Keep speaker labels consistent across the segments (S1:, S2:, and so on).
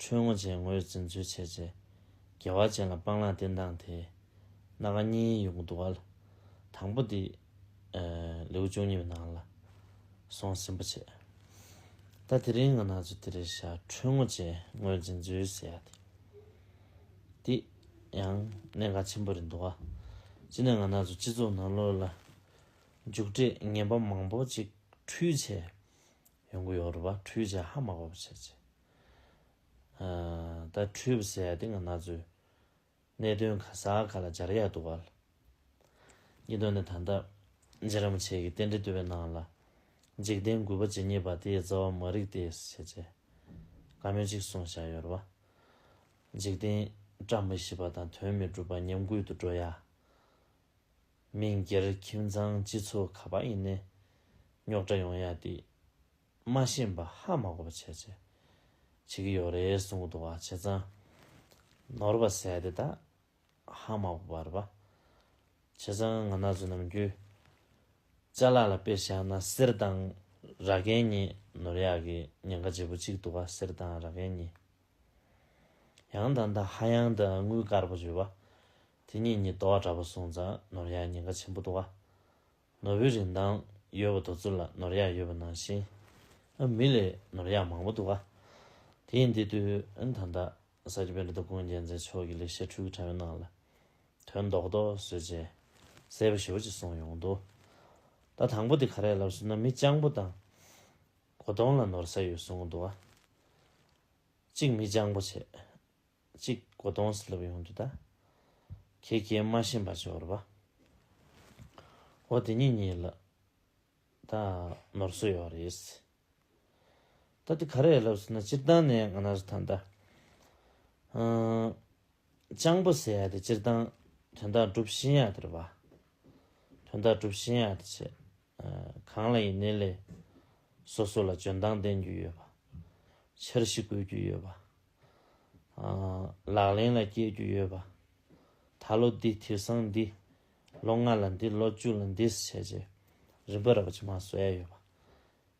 S1: ཁྲོས་ངོ་ཅན་ངོས་འཛིན་ཚུལ་འཆད་བྱེད། རྒྱལ་བ་ཅན་ལ་སྤང་བླང་བསྟན་སྟངས་དེ། སྣ་ཁ་གཉིས་དབྱུག་གདུག་བ་ལ། དང་པོ་འདི། ལེའུ་བཅུ་གཉིས་པའི་ནང་ལ། སོང་ཟིན་པོ་ཆེ། ད་དེ་རིང་ང་ན་ཚོད་དེ་རེད་བཞག་ཁྲོས་ངོ་ཅན་ངོས་འཛིན་ཚུལ་ཟེར་ཡག་དེ། འདི། ཡང། གནད་འགག་ཆེན་པོ་རེད་འདུག་བ། གཅིག་ནས་ང་ན་ཚོ་སྤྱི་ཚོགས་ནང་ལོགས་ལ། འཇུག་འབྲས་ངན་པ་མང་པོ་ཅིག་འཁྲུལ་བྱས། ཡོང་གི་ཡོག་རེད་བ་འཁྲུལ་བྱས་ཧ་མ་གོ་བ་བྱས་བྱས། ད་འཁྲུལ་བ་ཟད་དེ་སྔ་ན་ཚོད། གནད་དོན་ག་ས་ག་ལ་སྦྱར་ཡག་འདུག་བལ། གཉིས་དོན་ནི་ད་ལྟ་རྗེ་རིན་པོ་ཆེ་གིས་རྟེན་འབྲེལ་བསྟོད་པའི་ནང་ལ། འཇིག་རྟེན་མགུལ་པ་ཇི་སྙེད་པ་དེའི་རྩ་བ་མ་རིག་སྟེ་ཞེས་བྱས། བཀའ་མོལ་གཅིག་གསུངས་བཞག་ཡོད་རེད་བ། འཇིག་རྟེན་བཀྲ་མི་ཤིས་པ་དང་དོན་མི་འགྲུབ་པ་ཉམས་རྒུད་དུ་འགྲོ་ཡ། མི་སྒེར་ཁྱིམ་ཚང་སྤྱི་ཚོགས་ག་པ་ཡིན་ནའི་རྙོག་དྲ་ཡོང་ཡ་དེ། མ་ཤེས་པ་ཧ་མ་གོ་བ་བྱས་བྱས་བྱེད་ཀྱི་ཡོད་རེད་གསུང་གི་འདུག་བ་བྱས་ཙང་ནོར་བ་ཟས་དེ་དག་ཧ་མ་གོ་བ་རེད་བ་བྱས་ཙང་ང་ནག་ཚོས་ནམ་རྒྱུན་བཅའ་ལག་ལ་དཔེ་བཞག་ན་གསེར་དང་ར་གན་གཉིས་ནོར་ཡག་གི་ཉེན་ཁ་ཆེ་པོ་གཅིག་འདུག་བ་གསེར་དང་ར་གན་གཉིས་ཡང་དང་ད་ཧ་ཡང་དུ་དངུལ་དཀར་པོ་བརྗོད་བ་དེ་གཉིས་གཉིས་དོ་བ་འདྲ་པོ་གསུང་ཙང་ནོར་ཡག་ཉེན་ཁ་ཆེན་པོ་འདུག་བ་ནོར་བུའི་རིན་ཐང་ཡོད་པ་དུ་ཚོད་ལ་ནོར་གཡག་ཡོད་པ་ནང་བཞིན། མི་ལས་ནོར་གཡག་མང་པོ་འདུག་ག་དེ་ཡིན་དེ་དུས་ད་ལྟ་ས་སྐྱ་པཎ་ཏི་དགོན་རྒྱལ་མཚན་མཆོག་གི་ལེགས་བཤད་འཕྲུལ་གྱི་དྲ་བའི་ནང་ལ་དོན་རྡོག་རྡོག་བཟོས་རྗེས་གསལ་པོ་ཞིབ་པོ་ཅིག་སོང་ཡོང་འདུག་ད་དང་པོ་དེ་ག་རེ་ལབ་ཟུར་ན་མི་སྤྱང་པོ་དང་གོ་དོང་ལ་ནོར་ཟ་ཡོད་གསུང་གི་འདུག་ག་གཅིག་མི་སྤྱང་པོ་བྱས་གཅིག་གོ་དོང་སི་ལུབ་ཡོང་དུ་ད། ཁྱེད་ཀྱིས་སྨྲ་བཞིན་པ་ཅི་བོར་བ། ཨོ་དེ་ཉིད་ཉིད་ལ། ད་ནོར་བཟོས་ཡོད་རེད། ད་དེ་ག་རེད་ལབ་ཟེར་ན་སྤྱིར་བཏང་ནས་ང་ནར་ཐང་ད། སྤྱང་པོ་ཟེར་ཡ་དེ་སྤྱིར་བཏང་དོན་དག་སྒྲུབ་བཞིན་ཡ་དེར་བ། དོན་དག་སྒྲུབ་བཞིན་ཡ་དེ་ཆེ། གང་ལ་ཡིན་ནི་ལས། སོ་སོ་ལ་འཇོན་ཐང་ལྡན་རྒྱུ་ཡོད་བ། འཆར་གཞི་བཀོད་རྒྱུ་ཡོད་བ། ལག་ལེན་ལ་བསྐྱལ་རྒྱུ་ཡོད་པ། ད་ལོ་འདི་དེ་སང་འདི། ལོ་ལྔ་ལ་འདི་ལོ་བཅུ་ལ་འདིས་བྱས་རྗེས་རིམ་པ་རག་བྱེད་མ་བཟོ་ཡ་ཡོད་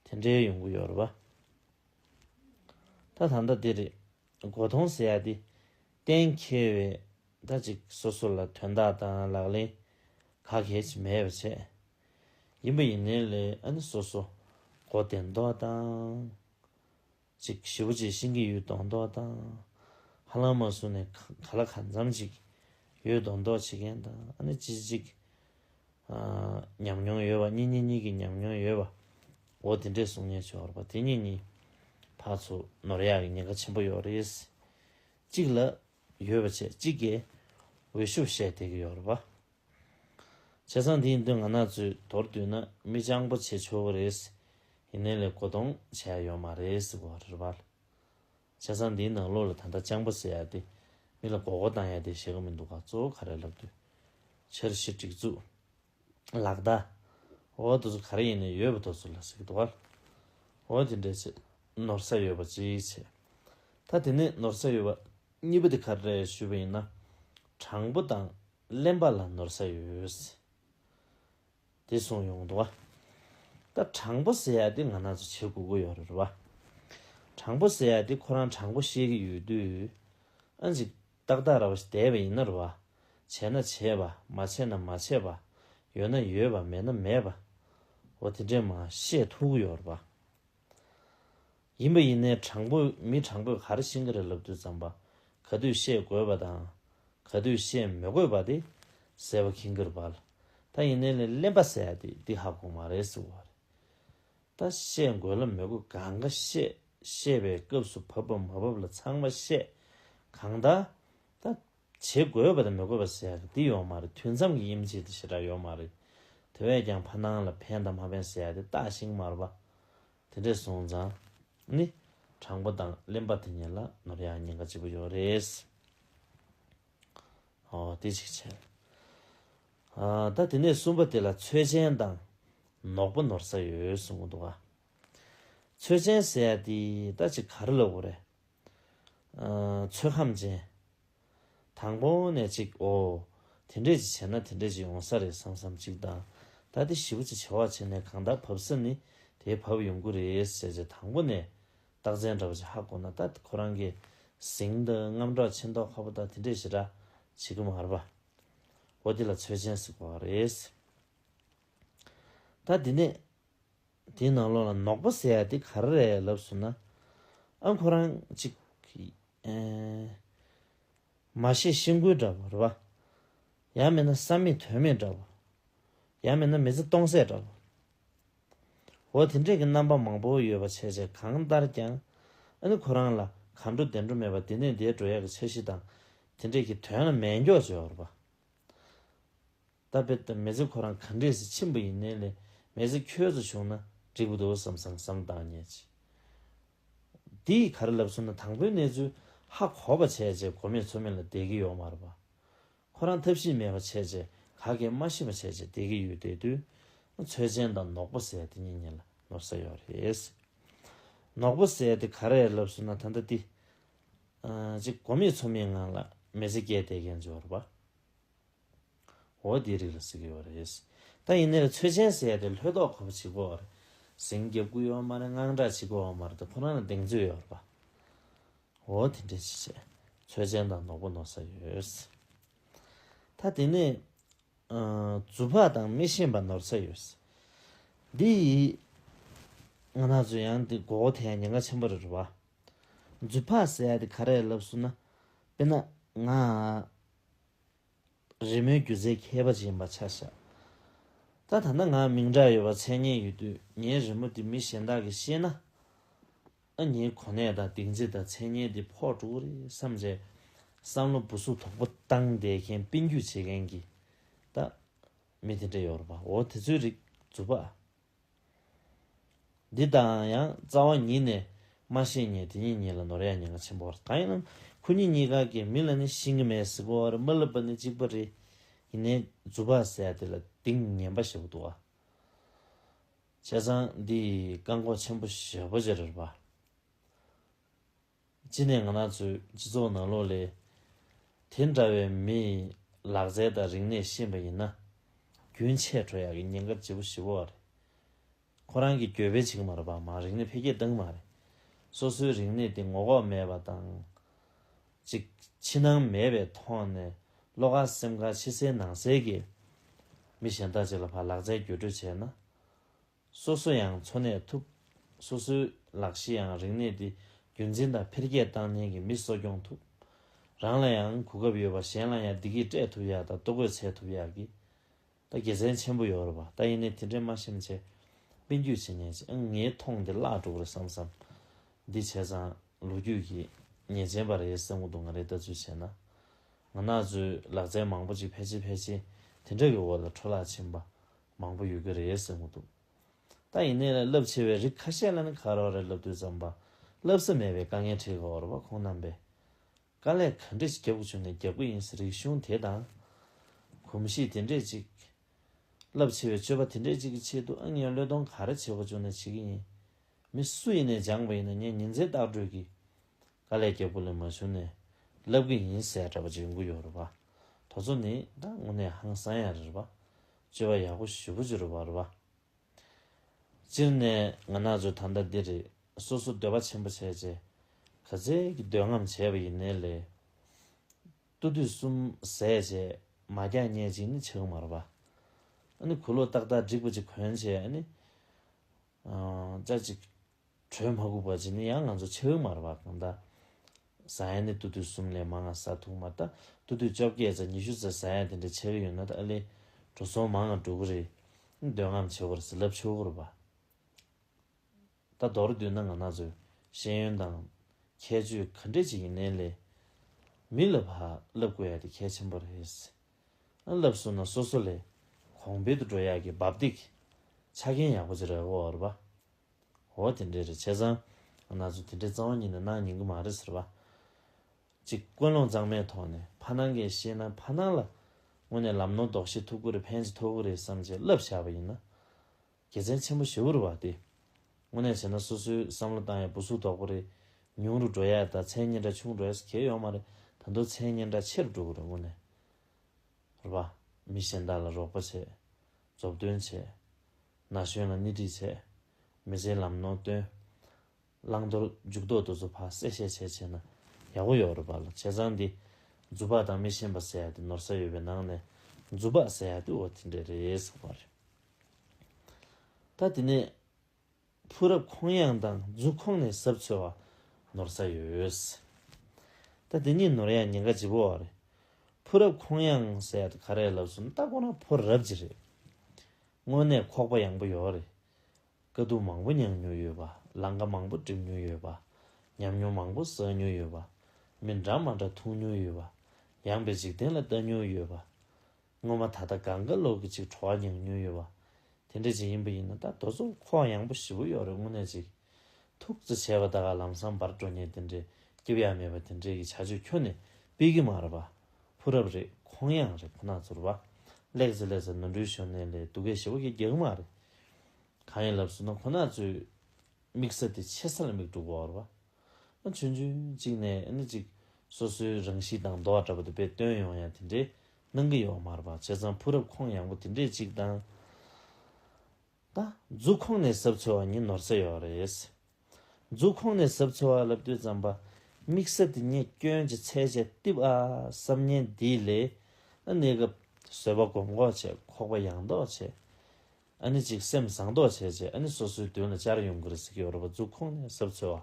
S1: པ། དེ་འདྲའི་ཡོང་གི་ཡོད་རེད་པ། ད་ད་ལྟ་འདི་རེད་མགོ་ཐོང་ཟེར་ཡ་འདི་གཏན་འཁེལ་བས་ད་ཅིག་སོ་སོ་ལ་དོན་དག་དང་ལག་ལེན་ག་གལ་ཆེ་མེད་པ་བྱས་ཡིན་པ་ཡིན་ནའི་ལས་ཨ་ནི་སོ་སོ་མགོ་བདེ་མདོག་དང། ཅིག་བཞི་པོ་ཆེ་ཤིང་གི་ཡུལ་གདོང་མདོག་དང། ཧ་ལམ་མ་སུ་ནེ་ག་ལ་ག་འཛམ་ཅིག། ཡུལ་གདོང་མདོག་བྱེད་མཁན་དང་ཨ་ནི་ཅི་ཅིག། ཉམས་མྱོང་ཡོད་པ་གཉིས་གཉིས་གཉིས་ཀྱི་ཉམས་མྱོང་ཡོད་པ། འོ་དེ་འདྲའི་གསུང་ཉན་ཆོག་ར་པ་དེ་གཉིས་གཉིས། ཕག་ཚོ་ནོར་ཡག་གི་ཉེན་ཁ་ཆེན་པོ་ཡོད་རེད། ཅིག་ལ། ཡོད་པ་ཆེ་ཅིག་གེ། འོས་ཤོབ་བཤད་དེ་གི་ཡོད་ར་པ། བྱས་ཙང་དེའི་མདུན་ང་ནག་ཆུའི་དོར་བསྡུས་ན་མི་སྤྱང་པོ་བྱེད་ཆོག་གི་རེད། ཡིན་ནའི་ལས་ཀོ་དོང་བྱས་ཡོད་མ་རེད་ཟེར་བ་རེད། བྱས་ཙང་དེའི་ནང་ལོག་ལ་ད་ལྟ་སྤྱང་པོ་ཟེར་ཡ་དེ་མི་ལ་གོ་གོ་བཏང་ཡ་དེ་བྱེད་ཀི་མི་འདུག་ག་གཙོ་བོ་ག་རེ་ལབ་དུས། འཆར་གཞི་སྒྲིག་འཛུགས། ལག་བརྡ། འོ་དེ་ཚོ་ག་རེ་ཡིན་ནའི་ཡོད་པ་དོ་ཚོ་ལ་ཟེར་གི་འདུག་ག། འོ་དེ་འདྲས་བྱེད་ནོར་ས་ཡོད་པ་ཅིའི་བྱེད། ད་དེ་ནས་ནོར་ས་ཡོད་པ་གཉིས་པ་དེ་ག་རེ་རེད་ཞུས་པ་ཡིན་ན། དྲང་པོ་དང་གླེན་པ་ལ་ནོར་ས་ཡོད། དེ་སོང་ཡོང་འདུག་བ། ད་དྲང་པོ་ཟེར་ཡག་དེ་ང་ན་ཚོ་བྱེད་དགོས་གོ་ཡོད་རེད་བ། དྲང་པོ་ཟེར་ཡག་དེ་ཁོ་རང་དྲང་པོ་བཤད་གི་ཡོད་དུས། ཨ་འཇིག་ཏག་ཏག་ར་བ་ཞིག་དེ་བས་ཡིན་ན་རུ་བ། བྱས་ན་བྱས་པ་མ་བྱས་ན་མ་བྱས་པ། ཡོད་ན་ཡོད་པ་མེད་ན་མེད་པ། འོ་དེ་འདྲས་མ་བཤད་ཐུག་གི་ཡོད་རེད་བ། ཡིན་པ་ཡིན་ནའི་དྲང་པོ་མི་དྲང་པོས་གར་ཤིང་གི་རི་ལབ་དུས་ཙམ་པ་ག་དུས་བཤད་དགོས་པ་དང་ག་དུས་བཤད་མི་དགོས་པ་དེ་ཟེར་བ་གིང་གིར་བལ་ད་ཡིན་ནའི་ལས་གླེན་པ་ཟེར་ཡ་དེ་འདི་ཧ་གོ་མ་རེད་ཟེར་བ་རེད། ད་བཤད་དགོས་ལ་མི་དགོས་གང་ག་བཤད་བཤད་པའི་སྐབས་སུ་བབ་བབ་མ་བབ་ལ་ཚང་མ་བཤད་གང་ད་ད། བྱེད་དགོས་པ་དང་མི་དགོས་པ་ཟེར་འདི་ཡོད་མ་རེད་དུས་མཚམས་ཀྱི་དབྱིན་ཇི་དེ་ཞེ་དྲག་ཡོད་མ་རེད་དེ་བས་ཀྱང་ཕ་ནང་ལ་ཕན་དང་མ་ཕན་ཟེར་དེ་བརྟགས་ཤིང་མར་པ་དེ་འདྲས་སོང་ཙང་ནི་དྲང་པོ་དང་གླེན་པ་དེ་ཉིད་ལ་ནོར་ཡག་ཉེན་ཁ་ལྕི་པོ་ཡོད་རེད། ཨོ་དེ་གཅིག་བྱས། ད་དེ་ནས་གསུམ་པ་དེ་ལ་ཚོད་ཆེན་དང་ནོག་པ་ནོར་ས་ཡོད་གསུང་གི་འདུག་ག། ཚོད་ཆེན་ཟེར་དེ་ད་ཅིག་ག་རེ་ལ་དགོས་རེད། ཚོད་ཁམས་ཅན། དང་པོ་ནས་ཅིག་ཨོ། དེ་འདྲས་ཅིག་བྱས་ན་དེ་འདྲས་ཅིག་ཡོང་ས་རེད་བསམ་བསམ་ཅིག་དང། ད་དེ་བཞི་པོ་ཅིག་བྱ་བ་བྱས་ནས་གང་དག་བབས་ས་ནི་དེའི་བབས་ཡོང་གི་རེད་བྱས་བྱས་དང་པོ་ནས་རྟགས་མཚན་འདྲ་བ་ཅིག་ཧ་གོ་ན་ད་ཁོ་རང་གི་གཟིངས་དང་རྔམ་སྒྲོག་ཆེ་མདོག་ཁ་པོ་དག་དེ་འདྲས་ཞེ་དྲག་བྱེད་ཀྱི་མ་རེད་པ། ཨོ་དེ་ལ་ཚོད་ཅན་ཟིག་པ་རེད། ད་འདི་ནས་དེའི་ནང་ལོགས་ལ་ནོག་པོ་ཟེར་ཡ་དེ་ག་རེ་རེད་ལབ་ཟུར་ན། ཨ་ཁོ་རང་གཅིག། མ་ཤེས་ཤེས་འགུལ་འདྲ་བོ་རེད་བ། ཡང་མིན་ན་བསམ་མེད་དོན་མེད་འདྲ་བོ། ཡང་མིན་ན་མི་ཚེ་སྟོང་ཟད་འདྲ་བོ། འོ་དེ་འདྲས་ཀྱི་རྣམ་པ་མང་པོ་ཡོད་པ་བྱས་བྱས་གང་ལྟར་ཀྱང། ཨ་ནི་ཁོ་རང་ལ་ག་འགྲོ་བདེ་འགྲོ་མེད་པ་འདི་ནས་འདས་འགྲོ་ཡག་གི་འཆར་གཞི་དང་དེ་འདྲས་ཀྱི་དོན་ལ་མེད་མགྱོགས་བྱས་བ་རེད་བ། ད་བེད་དུ་མེད་ཚེ་ཁོ་རང་ག་འདྲས་སུ་ཕྱིན་པ་ཡིན་ནའི་ལས་མེད་ཚེ་ཁྱོད་ཚོ་བྱུང་ན་འགྲིག་པོ་འདུག་བསམ་བསམ་བསམ་བཏང་ཉེ་ཅི། འདི་ག་རེ་ལབ་སོང་ན་དང་པོའི་གནས་ཚུལ་ཧ་གོ་བ་བྱས་རྗེས་གོ་མེད་ཚོ་མེད་ལ་བསྡད་ཀྱི་ཡོག་མ་རེད་པ། ཁོ་རང་ཐབས་ཤེས་མེད་པ་བྱས་རྗེས་ག་གེ་སྨྲ་ཤེས་པ་བྱས་རྗེས་བསྡད་ཀྱི་ཡོད་བསྡད་དུས་ན་ཚོད་ཆེན་དང་ནོག་པོ་ཟས་དེ་གཉིས་གཉིས་ལ་ནོར་ས་ཡོག་རེད། ནོག་པོ་ཟས་དེ་ག་རེ་ལབ་སོང་ན་ད་ལྟ་འདི་ག་གོ་མེད་ཚོ་མེད་ངང་ལ་མེ་ཚེ་བསྐྱལ་བསྡད་མཁན་ཚོའི་རེད་པ། འོ་དེའི་རིགས་ལ་ཟེར་གི་ཡོད་རེད། ད་ཡིན་ནའི་རེད་ཚོད་ཆེན་ཟེར་ཡ་རེད་ལྷོད་ལྡོག་ཁོ་པ་བྱེད་དགོས་བ་རེད། ཟིང་རྒྱབ་སྐུ་ཡོད་བ་མ་རེད་དངངས་སྐྲག་བྱེད་དགོས་བ་མ་རེད་དེ་ཁོ་རང་ལ་གདེང་ཚོད་ཡོད་རེད་པ། འོ་དེ་འདྲས་ཅི་བྱེད་ཚོད་ཆེན་དང་ནོག་པོ་ནོར་ས་ཡོད། ད་དེ་ནས། རྫུ་བག་དང་མི་ཤེས་པ་ནོར་ས་ཡོད། འདི་ཡི། ང་ནག་ཚོས་ཡང་དེ་མགོ་བོ་ཐལ་ཉེན་ཁ་ཆེན་པོ་རེད་བ། རྫུ་བག་ཟེར་ཡ་དེ་ག་རེད་ལབ་སུ་ན། དཔེར་ན། ང། རི་མོའི་སྒྱུ་རྩལ་མཁས་པ་ཅན་པ་ཆ་བཞག་ད་ད་ནི་ང་མིང་གྲགས་ཡོད་པ་མཚན་སྙན་ཡོད་དུས་ངའི་རི་མོ་དེ་མི་གཞན་དག་གིས་ཤེས་ན། ཨ་མྱེའི་གོ་གནས་དང་སྡིགས་མཛེས་དང་མཚན་སྙན་དེ་ཕོག་འགྲོ་གི་རེད་བསམ་རེད། བསམ་བློ་སྦུ་གཟུགས་དོག་པོ་བཏང་བསྡད་མཁན་དཔེ་འགྱུས་བྱེད་མཁན་གྱི། ད། མི་དེ་འདྲ་ཡོད་རེད་པ་འོ་དེ་ཚོའི་རིགས་རྫུན་པ་ཨ། འདི་དང་ཡང་རྩ་བ་ཉིད་ནས་སྨྲ་ཤེས་ངེས་དེ་གཉིས་གཉིས་ལ་ནོར་ཡ་ཉེས་ང་ཆེན་པོ་བ་གང་ཡིན་ནམ་ཁོ་གཉིས་གཉིས་ཀ་གི་མི་ལ་ནི་ཤིང་གི་མེས་གཟིགས་པ་བར་མ་ལབ་པ་ནི་གཅིག་པ་རེ་ཡིན་ནའི་རྫུ་བག་ཟས་དེ་ལ་དིང་ངན་པ་ཞེས་པ་འདུག་བ། བྱས་ཙང་འདི་ཡི་བཀག་འགོག་ཆེན་པོ་ཞེས་པོ་ཇེ་རེར་བ། གཅིག་ནས་ང་ནག་ཚོའི་སྤྱི་ཚོགས་ནང་ལོག་ལས་དེ་འདྲ་བའི་མི་ཡི་ལག་རྩལ་དང་རིག་གནས་ཤེས་པ་ཡིན་ན། རྒྱུན་ཆད་འགྲོ་ཡག་གི་ཉེན་ཁ་ལྗིད་པོ་ཞི་བོ་བ་རེད། ཁོ་རང་གིས་གྱོད་དཔེ་བྱེད་ཀྱི་མ་རེད་པ་མང་རིག་གནས་འཕེལ་རྒྱས་བཏང་གི་མ་རེད། སོ་སོའི་རིག་གནས་དེ་ངོ་ལྐོག་མེད་པ་དང། ཅིག་ཕྱི་ནང་མེད་པའི་ཐོག་ནས་བློ་ཁ་སེམས་ཁ་ཕྱི་གསལ་ནང་གསལ་གྱིས་མི་གཞན་དག་ཅིག་ལ་བར་ལག་རྩལ་བརྒྱུད་སྤྲོད་བྱས་ན། སོ་སོ་ཡང་འཚོ་གནས་ཐུབ། སོ་སོའི་ལག་གཞི་ཡང་རིག་གནས་དེ་རྒྱུན་འཛིན་དང་འཕེལ་རྒྱས་བཏང་ནས་ཀྱི་མི་གསོ་སྐྱོང་ཐུབ། རང་ལ་ཡང་གོ་སྐབས་ཡོད་པ་གཞན་ལ་ཡང་བདེ་སྐྱིད་སྤྲད་ཐུབ་ཡ་ད་ལྟོ་གོས་འཚལ་ཐུབ་ཡག་གི། ད་དགེ་མཚན་ཆེན་པོ་ཡོད་རེད་པ་ད་ཡིན་ནའི་དེ་འདྲའི་མ་ཤེམ་ཆེ། དཔེ་འགྱུས་བྱེད་ཉེས་ཅན་ངའི་མཐོང་དེ་བརླག་འགྲོ་གི་རེད་བསམ་བསམ། འདི་བྱས་ཙང་ལོ་རྒྱུས་ཀྱི་ཉེས་ཅན་པ་རེད་བསམ་གི་འདུག་ང་རེ་ལྟ་ཚུལ་བྱས་ན། ང་ནག་ཚོའི་ལག་རྩལ་མང་པོ་ཅིག་ཕལ་ཆེར་ཕལ་ཆེར་དེ་འདྲ་གི་འོག་ལ་འཕྲོ་བརླག་ཕྱིན་པ་མང་པོ་ཡོད་ཀྱི་རེད་ཟེར་མོ་འདུག་ད་ཡིན་ནའི་རླབས་ཆེ་བའི་རིགས་ཁ་ཤས་ལ་ནི་ཁ་རོག་རེག་ལབ་དུས་ཙམ་པ་ལབ་ས་མེད་པའི་དཀའ་ངལ་འཕྲད་ཀྱི་འོར་བ་ཁོང་རྣམས་པས་དཀའ་ལས་ག་འདྲས་ཞིག་རྒྱབ་ཀྱི་བྱུང་ནས་རྒྱབ་ཀྱི་ཡིན་ཟེར་རིགས་གཞུང་དེ་དང། གོམས་གཤིས་དེ་འདྲས་ཅིག། རླབས་ཆེ་བའི་སྤྱོད་པ་དེ་འདྲས་ཅིག་གི་ཆེད་དུ་ཨང་ཉོན་བློས་གཏོང་ག་རེ་བྱེད་དགོས་བྱུང་ནས་བྱེད་ཀྱི་ཡིན། མི་སུ་ཡིན་ནས་སྦྱངས་པ་ཡིན་ན་ངས་ཉིན་མཚན་བརྟག་བགྲོས་ཀྱིས་ག་ལས་རྒྱལ་པོ་ལས་མ་བྱུང་ནས་ལབ་གི་ཡིན་ཟེར་ཡག་འདྲ་པ་ཅིག་ཡོང་གི་ཡོད་རེད་པ། དོ་ཚོ་ནི་ད་དངོས་གནས་ཧང་སང་ཡག་རེད་པ། སྤྱི་བ་ཡག་པོ་ཞུ་པོ་ཅིག་རེད་པ་རེད་པ། སྤྱིར་ནས་ང་ནག་ཆུ་ད་ལྟ་འདི་རེད་སོ་སོ་འདོད་པ་ཆེན་པོ་བྱས་རྗེས་ག་ཚད་ཀྱི་འདོད་རྔམ་བྱས་པ་ཡིན་ནའི་ལས། ཏུ་དུས་གསུམ་ཟས་བཅད་མ་རྒྱག་སྙད་ཅིག་ནི་བྱེད་གི་མ་རེད་པ། ཨ་ནི་གུ་ལོ་ཏག་ཏག་འགྲིག་པ་ཅིག་གོན་བྱས་ཨ་ནི། ཅག་ཅིག། དྲོད་མ་གུག་པ་ཅིག་ནི་ཡང་ང་ཚོ་ཕྱེད་མར་བ་གང་དག། ཟ་ཡ་ནི་ཏུ་ཏུ་གསུམ་ལས་མང་ང་ས་ཐུག་མར་ད་ཏུ་ཏུ་བཅོ་བརྒྱད་ཚ་ཉི་ཤུ་ཚ་ཟ་ཡ་དེ་འདྲ་ཕྱེད་ཡོད་ན་ད་ཨ་ལས། དྲོ་སོང་མང་ང་འགྲོ་གི་རེད། འདོད་རྔམ་ཆེ་བར་ཟི་ལབ་ཆུ་བོར་བ། ད་མདོར་བསྡུས་ན་ང་ན་ཚོའི་ཤེས་ཡོན་དང། ཁྱད་ཆོས་ག་འདྲས་ཅིག་ཡིན་ནན་ལས། མི་ལ་བ་ལབ་དགོས་ཡ་དེ་གལ་ཆེན་པོ་རེད། བསླབས་སོང་ན་སོ་སོ་ལས་གོང་འཕེལ་དུ་འགྲོ་ཡག་གི་འབབ་སྟེགས་ཆ་རྐྱེན་ཡག་པོ་ཅི་རེད་འོ་རེད་པ། འོ་དེ་འདྲས་རེད་བྱས་ཙང་ང་ཚོ་དེ་འདྲས་གཙང་བ་གཉིས་ནས་གནང་ཉན་གི་མ་རེད་ཟེར་བ། གཅིག་ཀུན་སློང་གཙང་མའི་ཐོག་ནས་ཕ་སྣང་གས་ཤེས་ན་ཕ་སྣང་ལ་དངོས་ནས་ལམ་ནོར་ལྡོག་ཤེས་ཐུབ་ཀི་རེད་ཕན་ཅི་ཐོག་གི་རེད་བསམ་ཅི་བསླབས་བཞག་པ་ཡིན་ན། རྒྱལ་མཚན་ཆེན་པོ་བྱེའུ་རུ་བ་སྟེ། དངོས་གནས་བྱས་ན་སོ་སོའི་བསམ་བློ་བཏང་ཡས་བུ་གཟུགས་དོག་པོ་རེད། ཉུང་རུ་འགྲོ་ཡས་དང་མཚན་སྙན་གྲགས་ཆུང་འགྲོ་ཡས་གལ་ཡོང་མ་རེད་ད་མདོ་མཚན་སྙན་གྲགས་ཆེ་རུ་འགྲོ་གི་རེད་དངོས་གནས། རུ་བ། མི་གཞན་དག་ལ་རོགས་པ་བྱས། རྫོབ་སྟོན་བྱས། ན་གཞོན་ལ་སྣེ་ཁྲིད་བྱས། མི་ཚེའི་ལམ་ནོར་བཏོན། བླང་དོར་འཇུག་ལྡོག་ཏུ་བཟོ་ཕག་གསལ་བཤད་བྱས་བྱས་ན་ཡག་པོ་ཡོད་རེད་བ་ལ་བྱས་ཙང་འདི་རྫུ་བག་དང་མི་ཤེས་པ་ཟེར་ཡ་དེ་ནོར་ས་ཡོད་པའི་ནང་ནས་རྫུ་བག་ཟེར་ཡ་དེ་འོ་དེ་འདྲས་རེད་ཟེར་བ་རེད། ད་དེ་ནས་ཕུག་རབ་ཁོང་གཡང་དང་རྫུ་ཁོང་ནས་ཟབ་ཚོལ་བ་ནོར་ས་ཡོད། ད་དེ་གཉིས་ནོར་ཡ་ཉེན་ཁ་ལྗི་པོ་བ་རེད། ཕུག་རབ་ཁོང་གཡང་ཟེར་ཡ་དེ་ག་རེད་ལབ་སུ་ནི་ལྟ་དགོ་ན་ཕོ་རབ་ཀྱི་རེད། དངོས་གནས་ཁོག་པ་ཡང་པོ་ཡོད་རེད། དཀའ་སྡུག་མང་པོ་མྱངས་མྱོང་ཡོད་པ། ལང་ཀ་མང་པོ་བསྒྲིམ་མྱོང་ཡོད་པ། ཉམས་མྱོང་མང་པོ་བསགས་མྱོང་ཡོད་པ། མི་འདྲ་མ་འདྲ་འཐུང་མྱོང་ཡོད་པ། ཡངས་པའི་འཇིག་རྟེན་ལ་ལྟ་མྱོང་ཡོད་པ། སྔོན་མ་ད་ལྟ་དགའ་དགའ་ལོག་གི་ཅིག་བྲོ་བ་མྱངས་མྱོང་ཡོད་པ། དེ་འདྲ་ཅིག་ཡིན་པ་ཡིན་ན་ད་རྡོ་ཚོགས་ཁོག་ཡངས་པོ་བཞི་པོ་ཡོག་རེད་དངོས་གནས་ཅིག། ཐུགས་བརྩེ་ཆེ་བ་ད་ག་ལམ་སང་འབར་འགྲོ་ཉེན་དེ་འདྲའི་སྐྱིབས་ཡག་མེད་པ་དེ་འདྲའི་གི་བྱ་སྤྱོད་ཁྱོ་ནས་སྤེལ་གི་མ་རེད་པ། ཕུ་རབ་རེད་ཁོང་ཡངས་རེད་ཁོ་ནག་ཚོར་བ། ལེགས་ཚེ་ལེགས་ཚེ་ནོར་འཁྲུལ་ཞོར་ནས་ལས་སྡུག་གེ་ཞི་བ་གི་རྒྱག་གི་མ་རེད། གང་ཡིན་ལབ་ཟུར་ན་ཁོ་ན་ཚོས་དམིགས་བསལ་དེ་ཆེ་ས་ལ་མིག་དཀྲུགས་བར་བ། ཨ་ཆོན་ཆོན་གཅིག་ནས་ཨ་ནི་གཅིག་སོ་སོའི་རང་གཤིས་དང་འདོ་བ་འདྲ་པོ་དེ་དཔེ་སྟོན་ཡོང་ཡང་དེ་འདྲའི་གནང་གི་ཡོག་མར་བ་བྱས་ཙང་ཕུགས་རབ་ཁོང་ཡང་པོ་དེ་འདྲས་གཅིག་དང། ད། རྫུ་ཁོང་ནས་ཟབ་ཚོལ་བ་ཉིན་ནོར་ཚད་ཡོག་རེད། འཛུགས་ཁོངས་ནས་ཟབ་འཚོལ་བ་ལབ་དུས་རྩམ་པ་དམིགས་བསལ་དེ་ཉིད་སྐྱོན་གྱི་ཚད་བཅད་གཏིབ་ཨ་བསམ་ཉན་འདིའི་ལས་ཨ་གནས་སྐབས་བཟོད་པ་གོམས་འགོག་བྱེད་ཁོག་པ་ཡངས་དོག་བྱེད་ཨ་ནི་གཅིག་སེམས་བཟང་དོག་བྱེད་ཅེས་ཨ་ནི་སོ་སོའི་དོན་ལ་བྱར་ཡོང་གི་རེད་ཟེར་གྱི་ཡོད་རེད་པ་འཛུགས་ཁོངས་ནས་ཟབ་འཚོལ་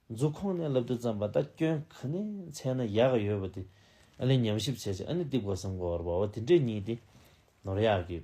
S1: བ་འཛུགས་ཁོངས་ནས་ལབ་དུས་རྩམ་པ་ད་སྐྱོན་ག་ནས་ཚད་ན་ཡག་གི་ཡོད་པ་དེ་ཨ་ལས་ཉམས་ཞིབ་བྱེད་ཅེས་ཨ་ནི་གཏིབ་གོ་སེམས་གོ་བར་བ་བ་དེ་འདྲའི་གཉིས་དེ་ནོར་ཡག་གི་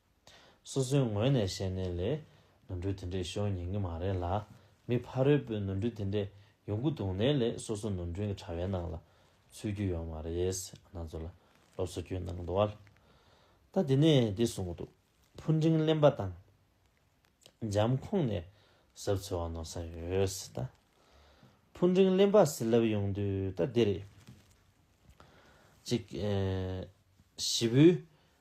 S1: སོ་སོའི་ངོས་ནས་བཤད་ནའི་ལས། ནོར་འཁྲུལ་དེ་འདྲས་ཤོར་ཉན་གི་མ་རེད་ལ། མི་ཕ་རོལ་པོས་ནོར་འཁྲུལ་དེ་འདྲས་ཡོང་གི་འདུག་ནའི་ལས་སོ་སོ་ནོར་འཁྲུལ་གྱི་དྲ་བའི་ནང་ལ། ཚུད་རྒྱུ་ཡོད་མ་རེད། ང་ཚོ་ལ་སློབ་གསོ་རྒྱུ་ནང་དུ་ཨཱ། ད་འདི་ནས་འདི་གསུང་གི་འདུག་ཕུ་འབྲིང་གླེན་པ་དང། འཇམ་ཁོང་ནས་ཟབ་འཚོལ་བ་ནོར་ས་ཡོད་ད། ཕུ་འབྲིང་གླེན་པ་ཟིལ་ལབ་ཡོང་དུས་ད་འདི་རེད། གཅིག། བཞི་བོའི།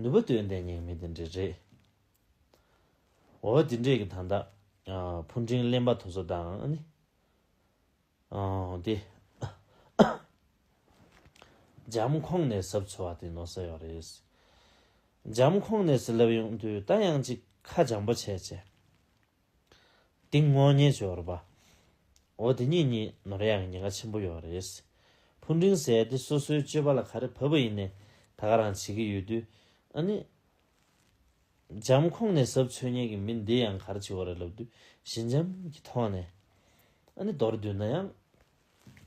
S1: ནུས་པ་དོན་ལྡན་ཉེས་མེད་འདི་འདྲའི་རེད། འོ་འདི་འདྲས་ཀྱི་ད་ལྟ་ཕུ་འབྲིང་གླེན་པ་དོ་ཟོ་དང་ནི། དེ། འཇམ་ཁོང་ནས་ཟབ་འཚོལ་བ་དེ་ནོར་ས་ཡོད་རེད། འཇམ་ཁོང་ནས་སེ་ལབ་ཡོང་དུས་ད་ཡང་ཅིག་ཁ་འཇམ་པོ་བྱས་བྱས། ཏིང་སྔོན་གཉེར་སྦྱོར་བ། འོ་དེ་གཉིས་གཉིས་ནོར་ཡང་ཉེན་ཁ་ཆེན་པོ་ཡོད་རེད། ཕུ་འབྲིང་ཟས་དེ་སོ་སོའི་སྤྱོད་པ་ལ་ག་རེ་བབ་པ་ཡིན་ནས་ད་ག་རང་བྱེད་ཀྱི་ཡོད་དུས། ཨ་ནི། འཇམ་ཁོངས་ནས་ཟབ་འཚོལ་ཉན་གྱི་མི་འདི་ཡང་ག་རེ་བྱེད་འོ་རེད་ལབ་དུས་ཞི་འཇམ་གྱི་ཐོག་ནས། ཨ་ནི་མདོར་བསྡུས་ན་ཡང།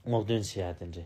S1: སྔོག་འདོན་བྱེད་ཡག་དེ་འདྲའི་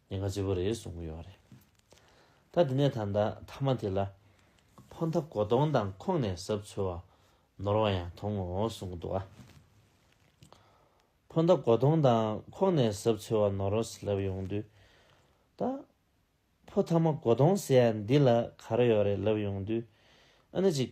S1: ཉེན་ཁ་ལྕི་པོ་རེད་གསུང་གི་ཡོད་རེད། ད་དེ་ནས་ད་ལྟ་མཐའ་མ་དེ་ལ་ཕོ་འཐབ་མགོ་སྟོང་དང་ཁོང་ནས་ཟབ་འཚོལ་བ་ནོར་བ་ཡང་དོང་ངོ་གསུང་གི་འདུག་ཨ། ཕོ་འཐབ་མགོ་སྟོང་དང་ཁོང་ནས་ཟབ་འཚོལ་བ་ནོར་བ་ཟླབ་ཡོང་དུས། ད་ཕོ་འཐབ་མ་མགོ་སྟོང་ཟེར་ཡ་འདི་ལ་ག་རེ་ཡོད་རེད་ལབ་ཡོང་དུས། ཨ་ནི་ཅིག་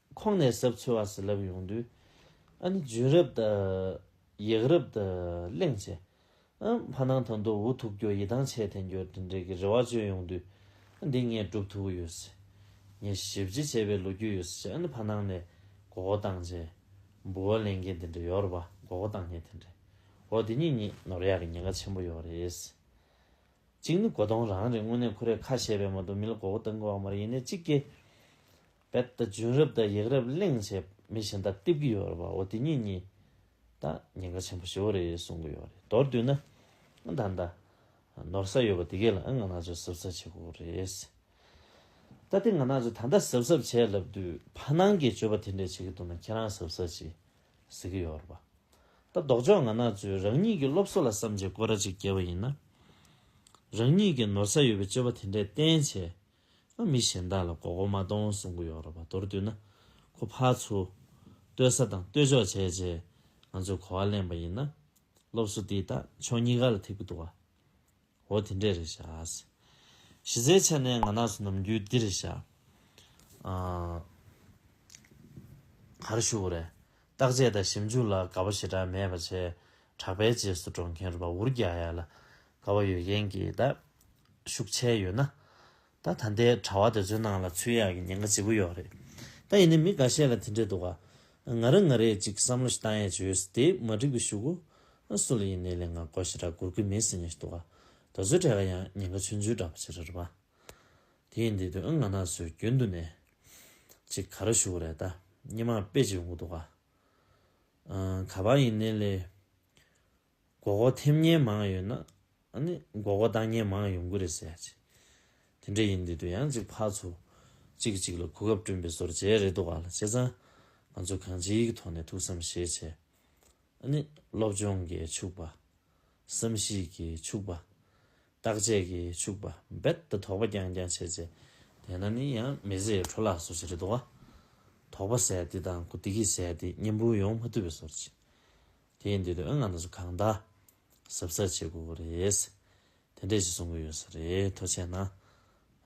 S1: ཁོང་ནས་ཟབ་ཚོལ་བ་ཟི་ལབ་ཡོང་དུས། ཨ་ནི་བྱུན་རབས་དང། ཡག་རབས་དང་གླེང་བྱས། ཨང། ཕ་ནང་དང་དོ་འུ་ཐུག་འགྱོ་ཡི་དྭངས་ཆད་འཐེན་འགྱོ་དྲིན་དྲན་གྱི་རེ་བ་བཅོལ་ཡོང་དུས། ཨ་འདི་ངས་སྒྲུབ་ཐུབ་ཡོད་སྲིད། ངས་ཞིབ་བརྗེ་བྱས་པའི་ལོ་རྒྱུས་ཡོད་སྲིད་ཅེས་ཨ་ནི་ཕ་ནང་ནས་མགོ་སྐོར་བཏང་རྗེས། འབུ་བ་ལེན་མཁན་དེ་འདྲ་ཡོད་རེད་པ་མགོ་སྐོར་བཏང་མཁན་དེ་འདྲས། འོ་དེ་གཉིས་གཉིས་ནོར་ཡག་གི་ཉེན་ཁ་ཆེན་པོ་ཡོད་རེད། གཅིག་ནི་མགོ་སྟོང་རང་རེད་དངོས་གནས་ཁོ་རས་ཁ་བཤད་པས་མ་གཏོགས་མི་ལ་མགོ་སྐོར་བཏང་དགོས་བ་མ་རེད་ཡིན་ནའི་གཅིག་གི། རྦད་དེ་བྱུང་རབས་དང་ཡག་རབས་གླེང་བྱས་མི་གཞན་དག་བསྟིབ་གི་ཡོད་རེད་བ་འོ་དེ་གཉིས་གཉིས་དག་ཉེན་ཁ་ཆེན་པོ་ཞེ་བོ་རེད་གསུང་གི་ཡོད་རེད་མདོར་བསྡུས་ན་ཨང་ད་ད་ནོར་ས་ཡོད་པ་དེ་གས་ལ་ཨང་ང་ནག་ཆུ་གཟབ་གཟབ་བྱེད་དགོས་རེད་ཟེར་ད་དེ་ང་ནག་ཆུ་ད་ད་གཟབ་གཟབ་བྱས་ལབ་དུས་ཕ་ནང་གི་སྤྱོད་པ་དེ་འདྲས་བྱེད་ཀྱི་འདུག་ན་ཁྱེད་རང་གཟབ་གཟབ་བྱེད་ཟེར་གི་ཡོད་རེད་བ་ད་ལྡོག་ཕྱོགས་ང་ནག་ཆུ་རང་ཉིད་ཀྱི་སློབ་གསོ་ལ་བསམ་བྱེད་སྐོར་ར་གཅིག་བསྐྱལ་བ་ཡིན་ན་རང་ཉིད་ཀྱི་ནོར་ས་ཡོད་པའི་སྤྱོད་པ་དེ་འདྲས་བསྟན་བྱས་ང་མི་གཞན་དག་ལ་མགོ་སྐོར་མ་གཏོང་གསུང་གི་ཡོད་རེད་པ་མདོར་བསྡུས་ན། ཁོ་ཕ་ཚོ། ལྟོས་ས་དང་ལྟོས་འཇོག་བྱས་རྗེས་ང་ཚོས་གོ་བ་ལེན་པ་ཡིན་ན། སློབ་གསོ་འདིས་ད་ཕྱོགས་གཉིས་ཀ་ལ་ཐེབས་ཀྱི་འདུག་ཨ། འོ་དེ་འདྲས་རེད་བཞག་ཨ། གཞི་རྩའི་ཆ་ནས་ང་ནགས་སུ་ནམ་རྒྱུན་འདི་རེད་བཞག་ཨ། གར་བཞུགས་རེད། བརྟག་དཔྱད་དང་ཞིབ་འཇུག་ལ་དགའ་བོ་ཞེ་དྲག་མེད་པ་བྱས། གྲགས་པའི་རྗེས་སུ་འགྲོ་མཁན་རུ་པ་འུར་རྒྱག་ཡ་ལ་དགའ་བོ་ཡོད་མཁན་གྱིས་ད་ཤུགས་ཆེ་ཡོད་ན། ད་ད་ལྟའི་གྲྭ་བ་དེ་ཚོའི་ནང་ལ་ཚུད་ཡག་གི་ཉེན་ཁ་ལྗིད་པོ་ཡོད་རེད། ད་ཡིན་ནའི་མི་འགའ་ཤས་ལ་དེ་འདྲས་འདུག་ག། ང་རང་ང་རེས་ཅིག་བསམ་བློ་ཞིག་བཏང་ཡས་བྱོས་ཡོད་སྲིད་དེ་མ་འགྲིག་པའི་ཞུ་གོ། སུ་ལ་ཡིན་ནའི་ལས་ངག་གོ་ཞེ་དྲག་སྒུར་གི་མིན་སྲིད་ཉེ་ཞིག་འདུག་ག། ད་ཚོའི་གྲས་ཀ་ཡང་ཉེན་ཁ་ཆུང་ཆུང་འདྲ་པོ་བྱེད་ར་རུ་པ། དེ་ཡིན་དེ་དུས་ཨང་ང་ན་སོའི་རྒྱུན་དུ་ནས། ཅིག་ག་རུ་བཞུགས་རེད་ད་སྙེ་མར་དཔེ་ཅིག་འུག་འདུག་ག། ག་བ་ཡིན་ནེ་ལེ། མགོ་གོ་ཐེམ་ཉེན་མང་ཡོད་ན། མགོ་གོ་བཏང་ཉེན་མང་ཡོང་གི་རེད་ཟེར་ཡ། དེ་འདྲ་ཡིན་དེ་དུས་ཡང་ཅིག་ཕར་ཚུར། གཅིག་གི་གཅིག་ལ་གོ་སྐབས་བསྐྲུན་པའི་བཟོར་བྱས་རེད་འདུག་ག་ལ་བྱས་ཙང། ང་ཚོ་གང་ཅིའི་གི་ཐོག་ནས་ཐུགས་བསམ་བཞེས་བྱས། སློབ་སྦྱོང་གིས་ཕྱུག་པ། བསམ་གཞིག་གིས་ཕྱུག་པ། བརྟག་དཔྱད་ཀྱིས་ཕྱུག་པ་རྦད་དེ་དོགས་པ་རྐྱང་རྐྱང་བྱེད་ཚེ། དེས་ན་ནི་ཡང་མི་བཟད་འཕྲོ་བརླག་སོ་ཞེས་རེ་དོགས། དོགས་པ་བཟད་དེ་དང་གུ་དེ་ཀྱིས་བཟད་དེ་གཉེན་པོ་ཡོང་མ་ཐུབ་པའི་སོར་ཆེ། དེས་འདོད་དོན་ང་ལ་སུ་གང་བདག། ཟབ་ས་བྱེད་དགོས་དགོས་རེད། དེ་འདྲས་ཞིག་གསུང་གི་ཡོད་ས་རེད་ཐོ་ཆེ་ན།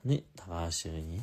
S1: ནི་ད་ག་ཞེས་པ་ཡིན།